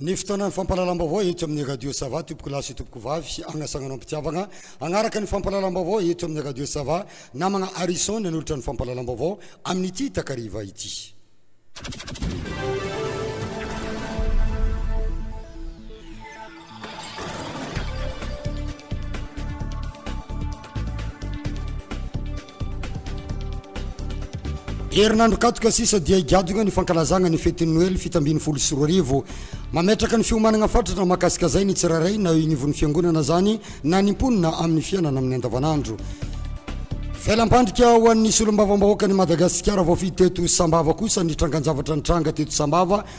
Ny fotoanan'ny fampahalalam-baovao eto amin'ny Radio Sava, tompoko lahy sy tompoko vavy, hagnasagnanao am-pitiavagna. Hagnaraka ny fampahalalam-baovao eto amin'ny Radio Sava, namagna Harrison nanolotra ny fampahalalam-baovao amin'ity takariva ity. Herinandro katoka sisa dia higadona ny fankalazagna ny fetin'ny Noely fito ambin'ny folo sy roa arivo. Mametraka ny fiomanagna fatratra mahakasikazay ny tsirairay na eo ignivon'ny fiangonana zany na ny mponina amin'ny fiainana amin'ny andavanandro. Velampandrika ho an'ny solombavambahoakan'i Madagasikara voafidy teto Sambava kosa ny trangan-javatra nitranga teto Sambava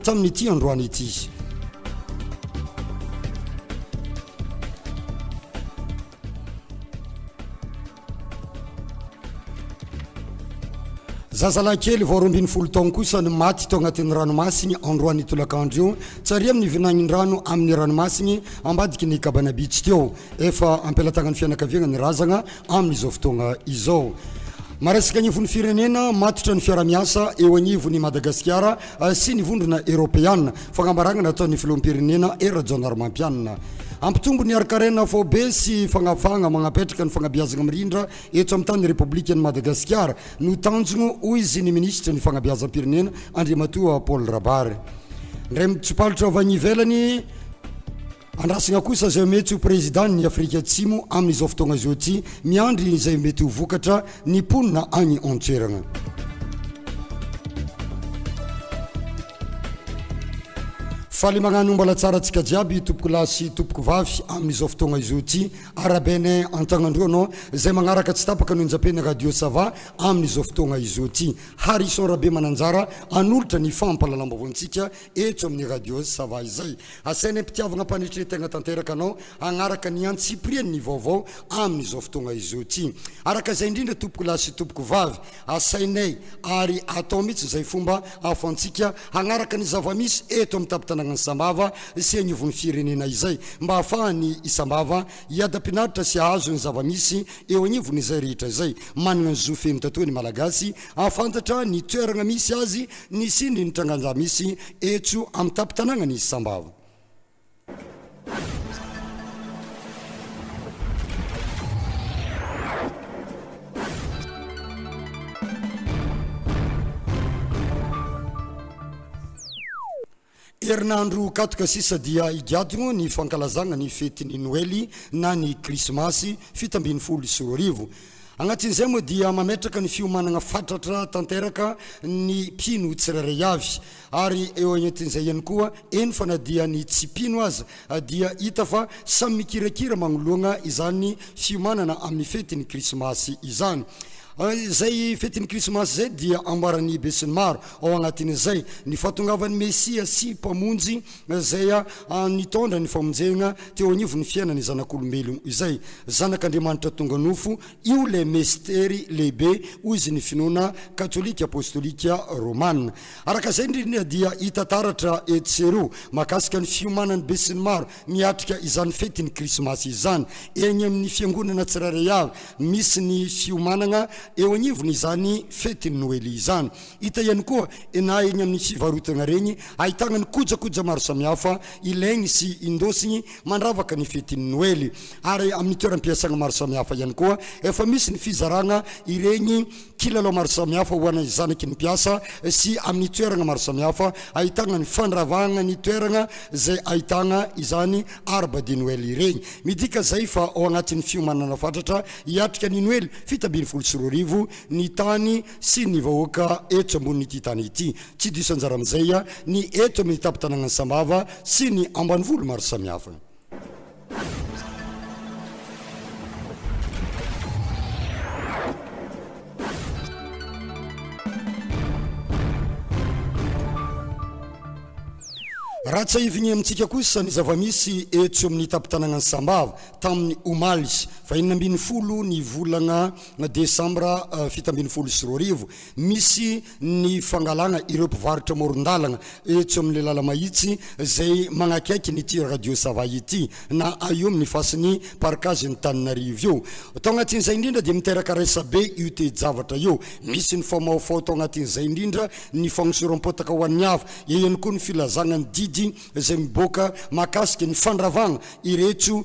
Tamin'ity androany ity, zazalahy kely vao roa ambin'ny folo taona kosa no maty tao anatin'ny ranomasiny androany tolakandro io, tsy ary amin'ny vinan'ny rano amin'ny ranomasiny ambadiky ny Cabana Beach teo. Efa am-pelatagnan'ny fianakaviana ny razana. amin'izao fotoagna izao. Maresaka ny anivon'ny firenena, matotra ny fiarahamiasa eo anivon'i Madagasikara sy ny Vondrona Eropeana, fagnambaragna nataon'ny Filoham-pirenena Hery Rajaonarimampianina. Hampitombo ny harin-karena faobe sy fagnafahagna magnapetraka ny fagnabeazagna mirindra eto amin'ny tany Repoblikan'i Madagasikara no tanjogno, hoy izy, ny Minisitry ny Fagnabeazam-pirenena Andriamatoa Paul Rabary. Ndray mitsopalotra avy any ivelany. Andrasana kosa izay mety ho Prezidàn' i Afrika Atsimo amin' izao fotoana izao ity, miandry izay mety ho vokatra ny mponina any an-toerana. Faly magnano ombalatsara antsika jiaby tompoko lahy sy tompoko vavy amin' izao fotoagna izao ity Arabene Antagnandroa no izay magnaraka tsy tapaka no injampen'ny Radio Sava amin' izao fotoagna izao ity Harrison Rabemananjara hanolotra ny fampahalalam-baovao antsika Eto amin'ny Radios Sava izay, asainay mpitiavana mpanetry tena tanteraka anao hanaraka ny antsipiriany ny vaovao amin'izao fotoana izao ity. Araka izay indrindra tompoko lahy sy tompoko vavy, asainay ary atao mihitsy izay fomba ahafahantsika hanaraka ny zava-misy eto amin'ny tampon-tanànan'i Sambava sy agnivon'ny firenena izay mba ahafahan'i Sambava hiadam-pinaritra sy hahazo ny zava-misy eo agnivon'izay rehetra izay manana ny zo feno tatoha ny Malagasy hahafantatra ny toerana misy azy Nisy indry ny trangan-ja misy eto amin'ny tampon-tanànan'i Sambava. Herinandro katroka sisa dia higadona ny fankalazagna ny fetin'ny Noely na ny Krismasy fito ambin'ny folo sy roa arivo. Agnatin'izay moa dia mametraka ny fiomanagna fatratra tanteraka ny mpino tsirairay avy. Ary eo agnatin'izay ihany koa, eny fa na dia ny tsy mpino aza dia hita fa samy mikirakira magnoloagna izany fiomanana amin'ny fetin'ny Krismasy izany. Izay fetin'ny Krismasy izay dia ambaran'ny besinimaro ao agnatin'izay ny fahatongavan'ny Mesia sy Mpamonjy izay nitondra ny famonjegna teo agnivon'ny fiainan'ny zanak'olombelogno izay, Zanak'Andriamanitra tonga nofo. Io ilay mestery lehibe, hoy izy, ny finoana katolika apôstôlika rômana. Araka izay indrindra dia hita taratra etsy sy eroa mahakasika ny fiomanan'ny besinimaro miatrika izany fety ny krismasy izany. Eny amin'ny fiangonana tsirairay avy misy ny fiomanagna eo agnivon'izany fetin'ny noely izany. Hita ihany koa na eny amin'ny fivarotagna regny ahitagna ny kojakoja maro samihafa ilaigny sy indosigny mandravaka ny fetin'ny noely. Ary amin'ny toeram-piasagna maro samihafa ihany koa efa misy ny fizaragna iregny Kilalao maro samihafa ho anay zanaky ny mpiasa sy amin'ny toeragna maro samihafa ahitagna ny fandravagna ny toeragna zay ahitagna izany arbre de Noël iregny. Midika zay fa ao agnatin'ny fiomanagna fatratra hiatrika ny Noely fito ambin'ny folo sy roa arivo ny tany sy ny vahoaka eto ambonin'ity tany ity. Tsy diso anjara amin'izay ny eto amin'ny tampon-tanàgnan'i Sambava sy ny ambanivolo maro samihafa. Raha tsiahivigny amintsika kosa ny zava-misy etsy amin'ny tampon-tanàgnan'i Sambava tamin'ny omaly faha enina ambin'ny folo ny volagna desambra fito ambin'ny folo sy roa arivo. Misy. ny fangalana ireo mpivarotra amoron-dalana etsy amin'ny lala-mahitsy izay manakaiky an'ity radio Sava ity na eo amin'ny fasin'ny parkazin'Antananarivo io. Tao anatin'izay indrindra dia miteraka resa-be io toe-javatra io. Misy ny famaofao tao anatin'izay indrindra ny fagnosoram-potaka ho an'ny hafa. Eo ihany koa ny filazana ny didy izay miboaka mahakasika ny fandravana ireto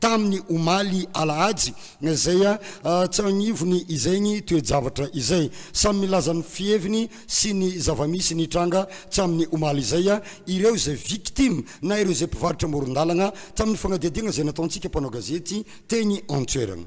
tamin'ny omaly alahady izay tsy agnivony izay ny toe-javatra izay. Samy milaza ny fiheviny sy ny zava-misy nitranga tsy amin'ny omaly izay ireo izay victime na ireo izay mpivarotra amoron-dalagna tamin'ny fanadihadiagna izay nataontsika mpanao gazety teny an-toeragna.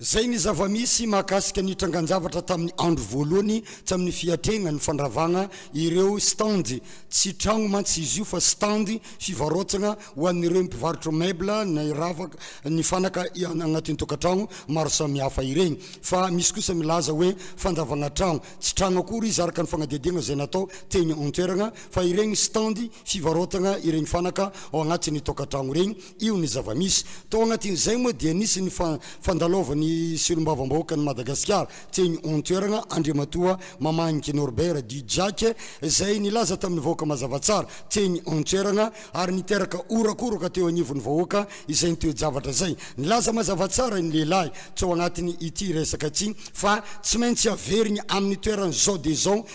Izay ny zava-misy mahakasika ny trangan-javatra tamin'ny andro voalohany tsy amin'ny fiatrehana ny fandravana ireo stand. Tsy trano mantsy izy io fa stand fivarotana ho an'ireo mpivarotra meuble ny ravaka, ny fanaka anatin'ny tokantrano maro samihafa ireny. Fa misy kosa milaza hoe fandravana trano. Tsy trano akory izy araka ny fanadihadiana izay natao teny an-toerana fa ireny stand fivarotana ireny fanaka ao anatin'ny tokantrano ireny. Io ny zava-misy. Tao anatin'izay moa dia nisy ny fandalovan'ny Solombavambahoakan'i Madagasikara teny an-toerana, Andriamatoa Mamahangy Norbert dit Jack, izay nilaza tamin'ny vahoaka mazava tsara teny an-toerana ary niteraka horakoroka teo anivon'ny vahoaka izay toe-javatra izay. Nilaza mazava tsara ny lehilahy tao anatin'ity resaka ity fa tsy maintsy averiny amin'ny toerany izao dia izao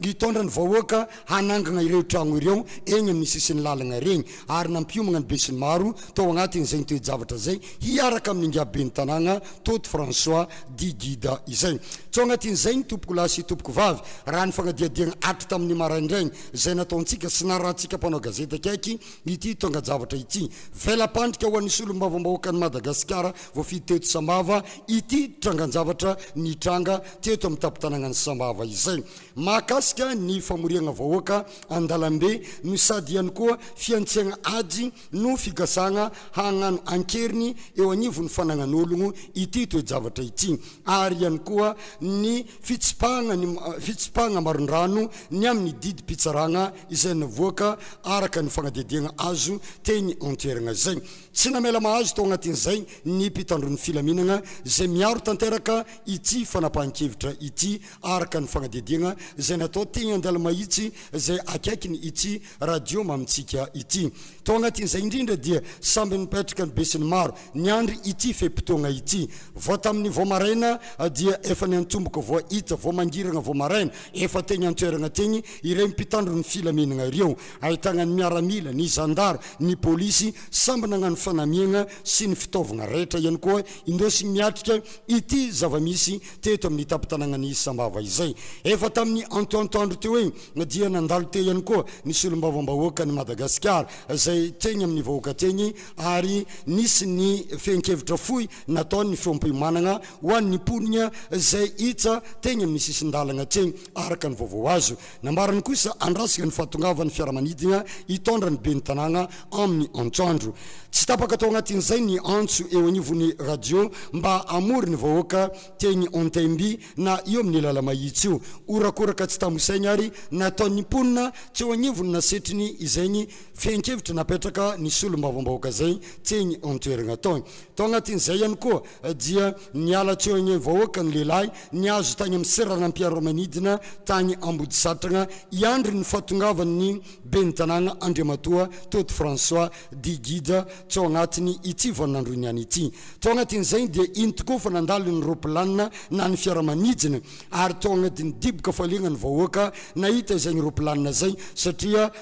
Nitondra ny vahoaka hanangana ireo trano ireo eny amin'ny sisin'ny lalana ireny ary nampiomagna ny besinimaro tao agnatin'izay toe-javatra izay hiaraka amin'ny ingahiben'ny tanàna Toty François dit Gida izay. Tso agnatin'izay ny tompokolahy sy tompokovavy raha ny fagnadihadiagna hatry tamin'ny maraindraigny izay nataontsika sy narahantsika mpanao gazety akaiky ity tongan-javatra ity. Vela-pandrika ho an'ny solombavambahoakan'i Madagasikara voafidy teto Sambava ity trangan-javatra nitranga teto amin'ny tampon-tanànan'i Sambava izay mahakasika ny famoriana vahoaka an-dalambe no sady ihany koa fihantsiana ady no fikasana hagnano an-keriny eo anivon'ny fanagnan'ologno ity toe-javatra ity ary ihany koa ny fitsipahana ny fitsipahana marindrano ny amin'ny didim-pitsarana izay navoaka araka ny fagnadihadiana azo teny an-toerana izay tsy namela mahazo tao anatin'izay ny mpitandron'ny filaminana izay miaro tanteraka ity fanapahan-kevitra ity araka ny fanadihadiana izay natao teny Andalomahitsy izay akaikin' ity radio mamintsika ity. Tao anatin' izay indrindra dia samby nipetraka ny besinimaro niandry ity fe-potoana ity. Vao tamin' ny vao maraina dia efa niantomboka vao hita vao mangirana vao maraina efa teny an-toerana teny ireo mpitandro ny filaminana ireo ahitana ny miaramila, ny zandary, ny polisy samby nagnano fanamiana sy ny fitaovana rehetra ihany koa indesigny miatrika ity zava-misy teto amin'ny tampon-tanànan'i Sambava izay. Efa tamin'ny antoantoandro teo eny dia nandalo teo ihany koa ny solombavambahoakan'i Madagasikara izay teny amin'ny vahoaka teny ary nisy ny fehin-kevitra fohy nataon'ny feom-piomanana ho an'ny mponina izay hita teny amin'ny sisin-dalana teny araka ny vaovao azo Nambarany kosa handrasana ny fahatongavan'ny fiaramanidina hitondra ny ben'ny tanàna amin'ny antoandro. Tsy tapaka tao anatin'izay ny antso eo anivon'ny radio mba hamory ny vahoaka teny Ontaimbi na eo amin'ny lala-mahitsy io. Horakoraka tsy tambo isaina ary nataon'ny mponina teo anivon'ny nasetriny izay ny fehin-kevitra napetraka ny solombavambahoaka izay teny an-toerana tao. Tao anatin'izay ihany koa dia niala teo anivon'ny vahoaka ny lehilahy nihazo tany amin'ny seranam-piaramanidina tany Ambodisatrana hiandry ny fahatongavan'ny ben'ny tanàna Andriamatoa Toty François Digida tao anatiny ity vaninandrony ihany ity. Tao anatin'izay dia iny tokoa fa nandalo ny ropilanina na ny fiaramanidina ary tao anatiny diboka fahaliana ny vahoaka nahita izay ropilanina izay satria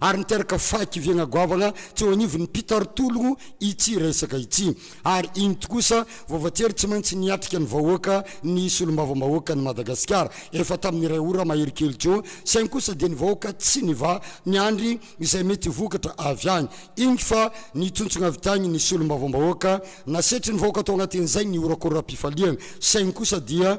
ary niteraka fahakiviagna goavagna teo anivon'ny mpitaritologno ity resaka ity, ary inty kosa voavatery tsy maintsy niatrika ny vahoaka ny solombavambahoakan'i Madagasikara efa tamin'ny iray ora mahery kely teo, saingy kosa dia ny vahoaka tsy nivaha niandry izay mety vokatra avy agny, ingy fa nitontsogna avy tagny ny solombavambahoaka, nasetrin'ny vahoaka tao agnatin'izay ny horakoram-pifaliagna, saingy kosa dia.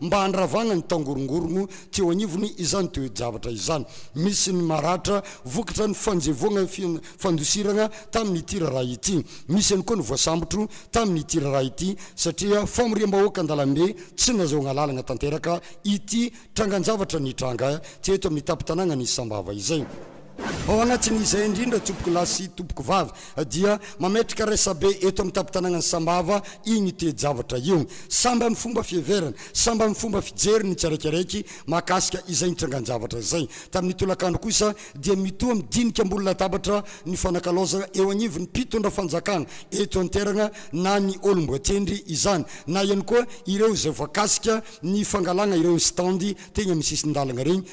mba handravana ny tangorongorogno teo anivon'ny izany toe-javatra izany. Misy ny maratra vokatra ny fanjevoagna fandosiragna tamin'ity raharaha ity. Misy ihany koa ny voasambotro tamin'ity raharaha ity satria famoriam-bahoaka an-dalambe tsy nazahoagna lalagna tanteraka ity trangan-javatra nitranga teto amin'ny tampon-tanàgnan'i Sambava izay. Ao anatin'izay indrindra tompoko lahy sy tompoko vavy dia mametraka resabe eto amin'ny tampon-tanànan'i Sambava iny toe-javatra io. Samby amin'ny fomba fiheverany, samby amin'ny fomba fijeriny ny tsiraikaraiky mahakasika izay nitrangan-javatra izay. Tamin'ny tolakandro kosa dia mitoa midinika ambony latabatra ny fanakalaozana eo anivon'ny mpitondra fanjakana eto an-terana na ny olom-boatendry izany na ihany koa ireo izay voakasika ny fangalana ireo stand teny amin'ny sisin-dalana ireny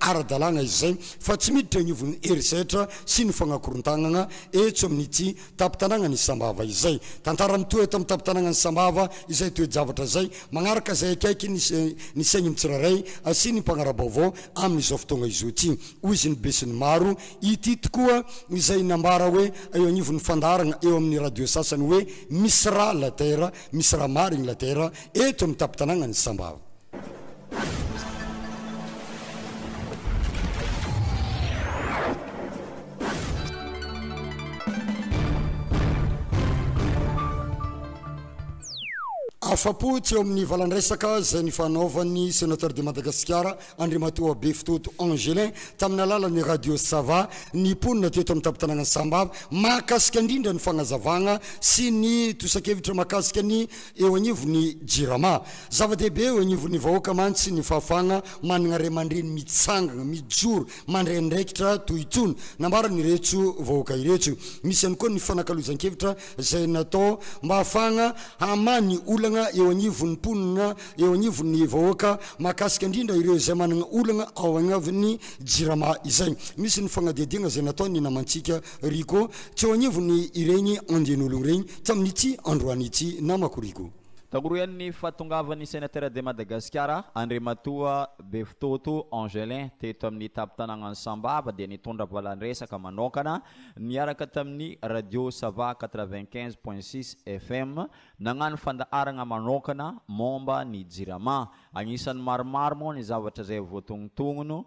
ara-dalàna izy izay fa tsy miditra eo anivon'ny herisetra sy ny fagnakorontagnagna eto amin'ity tampon-tanàgnan'i Sambava izay. Tantara mitohy eto amin'ny tampon-tanàgnan'i Sambava izay toe-javatra izay magnaraka izay akaiky ny ny saign'ny tsirairay sy ny mpagnara-baovao amin'izao fotoagna izao ity, hoy izy ny besinimaro. Ity tokoa izay nambara hoe eo anivon'ny fandaharagna eo amin'ny radio sasany hoe misy rà la terre, misy rà marigny la terre eto amin'ny tampon-tanàgnan'i Sambava. Afa-po tsy eo amin'ny valan-dresaka izay nifanaovan'ny Sénateur de Madagasikara, Andriamatoa Befitoto Angelin, tamin'ny alalan'ny Radio Sava ny mponina teto amin'ny tampon-tanànan'i Sambava, mahakasika indrindra ny fagnazavagna sy ny tosan-kevitra mahakasika ny Eo anivon'ny Jirama, zava-dehibe eo anivon'ny vahoaka mantsy ny fahafahana manana ray aman-dreny mitsangana, mijoro, mandray andraikitra toy itony, nambaran'ireto vahoaka ireto. Misy ihany koa ny fanakalozan-kevitra izay natao mba hahafahana hamaha ny olana eo anivon'ny mponina, eo anivon'ny vahoaka, mahakasika indrindra ireo izay manana olana ao anivon'ny Jirama izay. Misy ny fanadihadiana izay nataon'ny namantsika Rigo, tsy eo anivon'ny ireny andian'olo ireny, tsy amin'ity androany ity namako Rigo. Taorian'ny fahatongavan'ny Sénateur de Madagascar, Andriamatoa Befitoto Angelin teto amin'ny tampon-tanàgnan'i Sambava dia nitondra valan-dresaka manokana niaraka tamin'ny Radio Sava quatre-vingt-quinze point six FM nagnano fandaharagna manokana momba ny Jirama. Agnisan'ny maromaro moa ny zavatra izay voatognotogno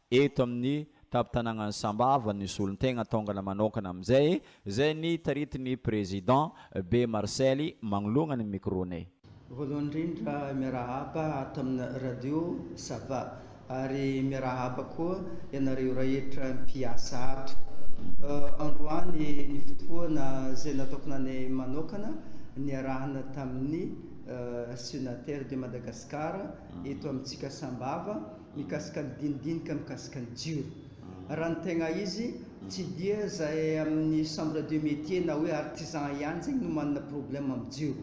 Eto amin'ny tampon-tanànan'i Sambava ny solontegna taongana manokana amin'izay, izay ny taritin'ny Président Be Marcely magnoloagna ny micro-nay. Voalohany indrindra miarahaba ato amina radio Sava ary miarahaba koa ianareo rehetra mpiasa ato. Androany ny fotoana izay natokananay manokana niarahana tamin'ny Synater de Madagascar eto amintsika Sambava. mikasika ny dinidinika mikasika ny jiro. Raha ny tegna izy, tsy dia izay amin'ny chambre de métier na hoe artisan ihany zegny no manana problème amin'ny jiro,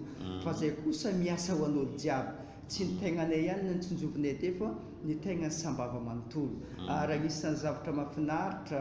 fa izay kosa miasa ho an'olo jiaby. Tsy ny tegnanay ihany no tsinjovinay teo fa ny tegnan'ny sambava manontolo. Ary agnisan'ny zavatra mahafinaritra,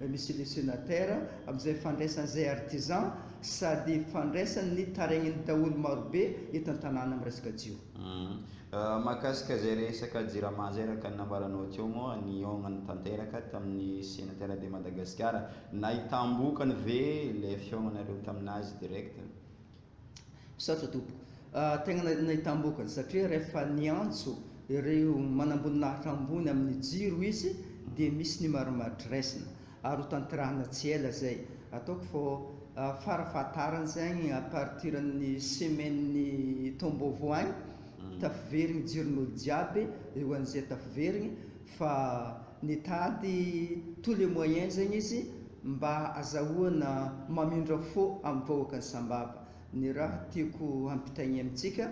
Monsieur le Senateur, amin'izay fandraisana izay artisan sady fandraisana ny taraignin'ny daholo marobe eto an-tanàna amin'ny resaka jiro. Mahakasika izay resaka Jirama izay araka ny nambaranao teo moa nihaonany tanteraka tamin'ny Senatera de Madagasikara. Nahitam-bokany ve ilay fihaonanareo tamin'azy direct? Misaotra tompoko. Tegna nahitam-boka ny satria rehefa niantso ireo manamboninahitra ambony amin'ny jiro izy dia misy ny marimaritra raisina ary ho tanterahina tsy ela zay. Ataoko fô fara fahatarany zegny à partir ny semaine taom-baovao agny tafiverigny jiron'olo jiaby eo an'izay tafiverigny fa nitady tous les moyens zegny izy mba azahoana mamindra fo amin'ny vahoakan'i Sambava, ny raha tiako hampitaigny amintsika,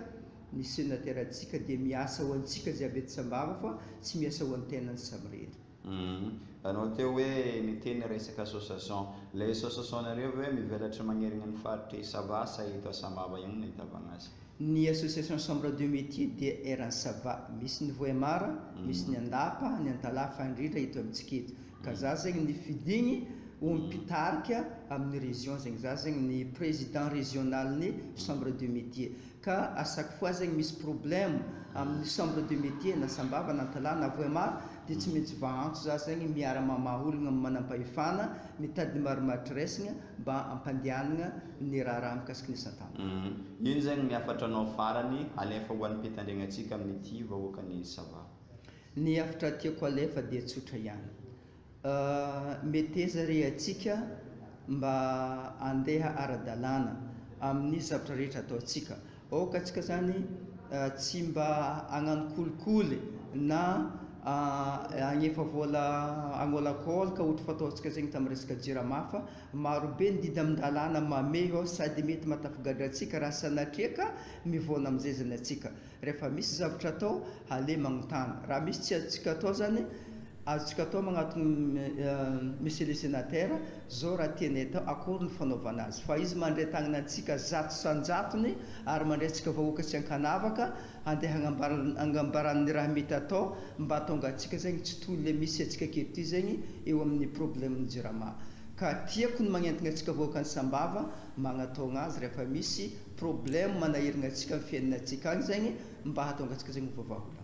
ny senatera-tsika dia miasa ho antsika jiaby eto Sambava fa tsy miasa ho an'tenany samirery. Humm. Anao teo hoe niteny resaka association. Ilay association-nareo ve mivelatry magnerigna ny faritry Sava sa eto Sambava ihany no ahitavagna azy? Ny Association Chambre de Métiers dia eran'i Sava. Misy ny Vohemar, misy ny Andapa, ny Antalaha fa indrindra eto amintsika eto. Ka za zegny ny fidigny ho mpitarika amin'ny région zegny. Za zegny ny président régional-n'ny Chambre de Métiers. Ka à chaque fois zegny misy problème amin'ny Chambre de Métiers na Sambava na Antalaha na Vohemar dia tsy maintsy vaantso za zegny miara-mamaha ologna manampahefana, mitady marimaritry resgna, mba hampandehanagna ny raharaha mikasiky ny satana. Humm ino zegny ny hafatranao farany halefa ho an'ny mpitandregnatsika amin'ity vahoakan'i Sava? Ny hafatra tiako halefa dia tsotra ihany. Meteza re atsika mba handeha ara-dalàna amin'ny zavatra rehetra ataontsika. Aoka antsika izany tsy mba hagnano kolikoly na hagnefa vola hagnôlankôlaka ohatry fataontsika zegny tamin'ny resaka jirama fa marobe ny didy amin-dalàna mamehy ao sady mety mahatafigadra antsika raha sanatria ka mivaona amin'izay zany antsika. Rehefa misy zavatra atao aleo magnontany. Raha misy tsy azontsika atao zany, azontsika atao magnatogno Monsieur le Sénateur Zao raha tiany atao akory ny fanaovana azy fa izy mandray tagnana antsika zato sanjatony ary mandray antsika vahoaka sy ankanavaka handeha hagnambarany hangambarany ny raha mety atao mba hatonga antsika zegny tsy toy le misy antsika aketo zegny eo aminy problème ny jirama ka tiako ny magnentagna antsika vahoaka any sambava magnatogna azy rehefa misy problème manahiragna antsika am fiainana antsika any zegny mba hatonga antsika zegny ho vavaholagna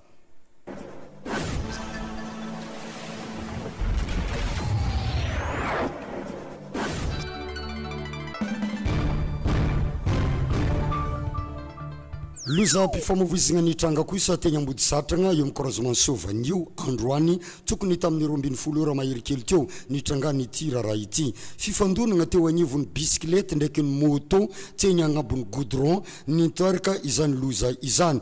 Lozam-pifamoivoizana nitranga kosa teny Ambodisatrana, eo amin'ny croisement Soa Vanio, androany, tokony tamin'ny roa ambin'ny folo ora mahery kely teo, nitrangan'ity raharaha ity. Fifandonana teo anivon'ny bisikilety ndraiky ny môtô teny agnambon'ny goudron, niteraka izany loza izany.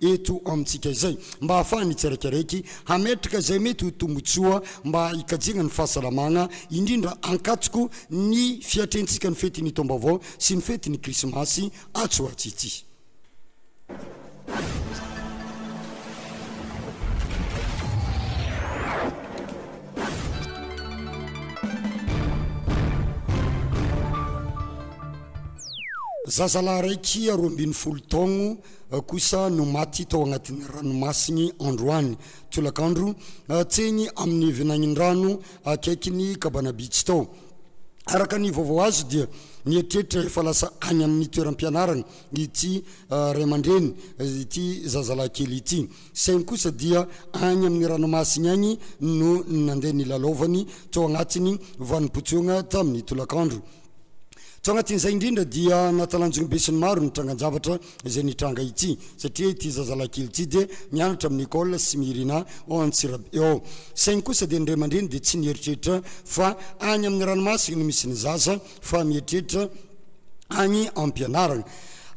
eto amintsika izay mba hahafahan'ny tsiraikaraiky hametraka izay mety ho tombontsoa mba hikajiana ny fahasalamana, indrindra ankatoko ny fiatrentsika ny fetin'ny taom-baovao sy ny fetin'ny Krismasy atsy ho atsy ity. Zazalahy raiky roa ambin'ny folo taogno. kosa no maty tao anatin'ny ranomasiny androany tolakandro teny amin'ny vinagnin-drano akaiky ny Kabana Beach tao. Araka ny vaovao azo dia mieritreritra efa lasa any amin'ny toeram-pianarana ity ray aman-dreny ity zazalahy kely ity saingy kosa dia any amin'ny ranomasiny any no nandeha nilalaovany tao anatin'ny vanim-potoagna tamin'ny tolakandro. Tao anatin'izay indrindra dia natalanjony besinimaro ny trangan-javatra izay nitranga ity satria ity zazalahy kely ity dia mianatra amin'ny école Smirina ao Antsirabe ao. Saingy kosa dia ny ray aman-dreny dia tsy nieritreritra fa any amin'ny ranomasina no misy ny zaza fa mieritreritra any am-pianarana.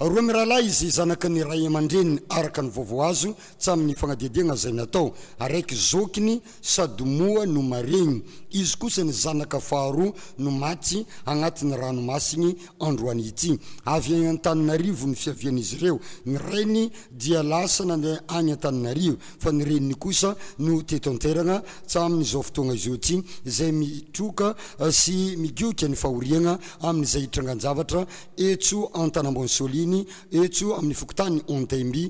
Roa mirahalahy izy zanaka ny ray aman-dreniny araka ny vaovao azo tsamin'ny fanadihadiagna izay natao. Araiky zokiny Sady moa no maregny, izy kosa ny zanaka faharoa no maty agnatin'ny ranomasigny androany ity. Avy agny Antananarivo ny fiavian'izy ireo, ny rainy dia lasa nandeha agny Antananarivo fa ny reniny kosa no teto an-toeragna hatramin'izao fotoagna izao ity, izay mitroka sy migioka ny fahoriagna amin'izay trangan-javatra etso Antanambao Nsoliny, etso amin'ny fokontany Antaimby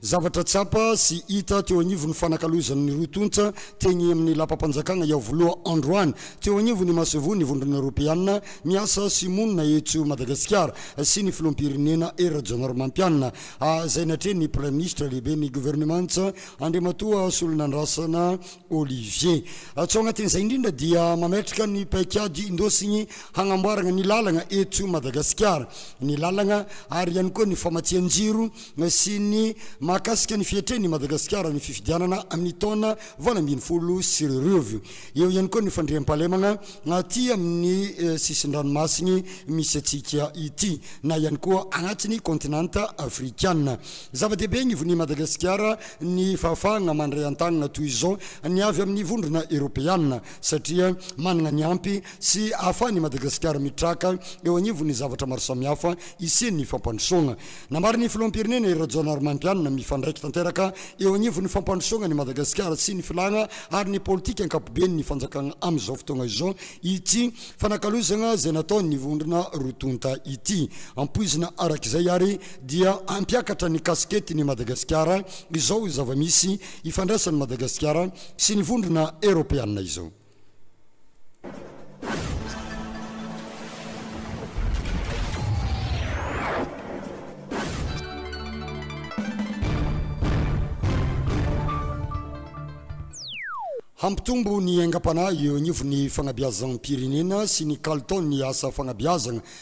Zavatra tsapa sy hita teo anivon'ny fanakalozan'ny roa tonta teny amin'ny lapam-panjakana Iavoloha androany. Teo anivon'ny masoivohon'ny Vondrona Eoropeana miasa sy monina eto Madagasikara sy ny Filoham-pirenena Hery Rajaonarimampianina, izay natrehin'ny Praiminisitra Lehiben'ny Governemanta Andriamatoa Rasolonandrasana Olivier. Tsy ao anatin'izay indrindra dia mametraka ny paikady indosigny hagnamboaragna ny lalagna eto Madagasikara, ny lalagna ary ihany koa ny famatsian-jiro, Nasiany mahakasika ny fiatrehany i Madagasikara ny fifidianana amin'ny taona valo ambin'ny folo sy roa arivo. Eo ihany koa ny fandriampahalemana aty amin'ny sisin-dranomasiny misy antsika ity na ihany koa anatin'ny kaontinanta afrikana. Zava-dehibe anivon'i Madagasikara ny fahafahana mandray an-tanana toy izao ny avy amin'ny vondrona eropeana satria manana ny ampy sy ahafahan'i Madagasikara mitraka eo anivon'ny zavatra maro samihafa isian'ny fampandrosoana Nambaran'ny filoham-pirenena i Rajaonarimampianina, mifandraika tanteraka eo anivon'ny fampandrosoana an'i Madagasikara sy ny filàna ary ny politika ankapobeny ny fanjakana amin'izao fotoana izao ity fanakalozana izay nataon'ny vondrona roa tonta ity. Ampoizina araka izay ary dia hampiakatra ny kasiketiny Madagasikara izao zava-misy ifandraisan'i Madagasikara sy ny vondrona eropeanina izao. Hampitombo ny aingam-panahy eo anivon'ny fanabeazam-pirenena sy ny kalitaon'ny asa fanabeazana.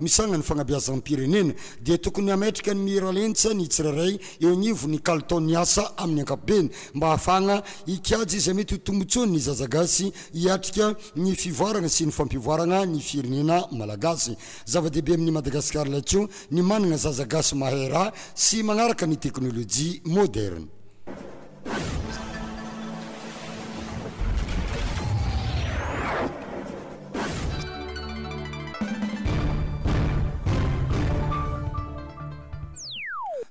misanga ny fanabeazam-pirenena dia tokony hametraka ny miralentsa ny tsirairay eo anivon'ny kalitaon'ny asa amin'ny ankapobeny mba hahafahana hikajy izay mety ho tombotsoan'ny zaza gasy hiatrika ny fivoarana sy ny fampivoarana ny firenena malagasy. Zava-dehibe amin'i Madagasikara Laitio ny manana zaza gasy mahay raha sy manaraka ny teknolojia moderne.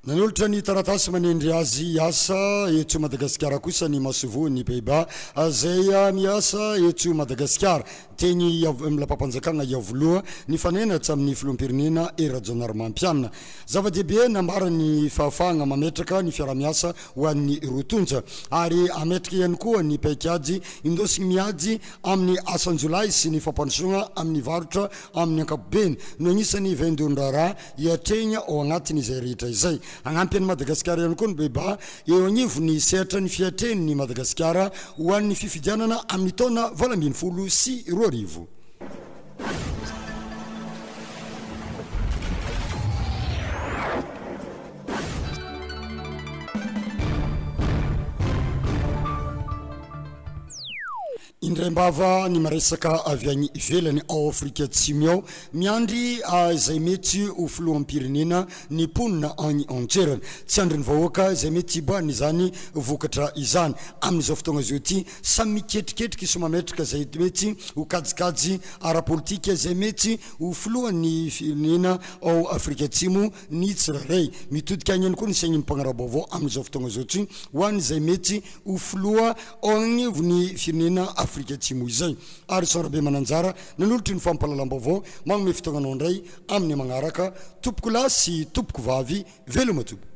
Nanolotra ny taratasy manendry azy hiasa eto Madagasikara kosa ny masoivohon'ny Pays-Bas izay miasa eto Madagasikara. Teny amin'ny lapam-panjakana Iavoloha, nifanena hatramin' ny filoham-pirenena Hery Rajaonarimampianina. Zava-dehibe nambarany ny fahafahana mametraka ny fiaraha-miasa ho an'ny roa tonta, ary hametraka ihany koa ny paikady indosin'ny miady amin'ny asan-jiolahy sy ny fampandrosoana amin'ny varotra amin'ny ankapobeny no anisan'ny vaindohan-draharaha hiatrehina ao anatin' izay rehetra izay. Hanampy an'i Madagasikara ihany koa ny Beba eo agnivon'ny sehatra ny fiatrehan'ny Madagasikara ho an'ny fifidianana amin'ny taona valo ambin'ny folo sy roa arivo. Indraimbava ny miresaka avy any ivelany ao Afrika Atsimo ao, miandry izay mety ho filoham-pirenena ny mponina any an-toerana. Tsy andrin'ny vahoaka izay mety hiboahana izany vokatra izany. Amin'izao fotoagna izao ity, samy miketriketrika sy mametraka izay mety ho kajikajy ara-politika izay mety ho filohan'ny firenena ao Afrika Atsimo, ny tsirairay. Mitodika haingana koa ny sain'ny mpanara-baovao amin'izao fotoana izao tsy ho an'izay mety ho filoha ao anivon'ny firenena Afrika Atsimo izay. Harrison Rabemananjara, nanolotra ny fampahalalam-baovao, manome fotoana anao indray amin'ny magnaraka, tompoko lahy sy tompoko vavy. Veloma tompoko.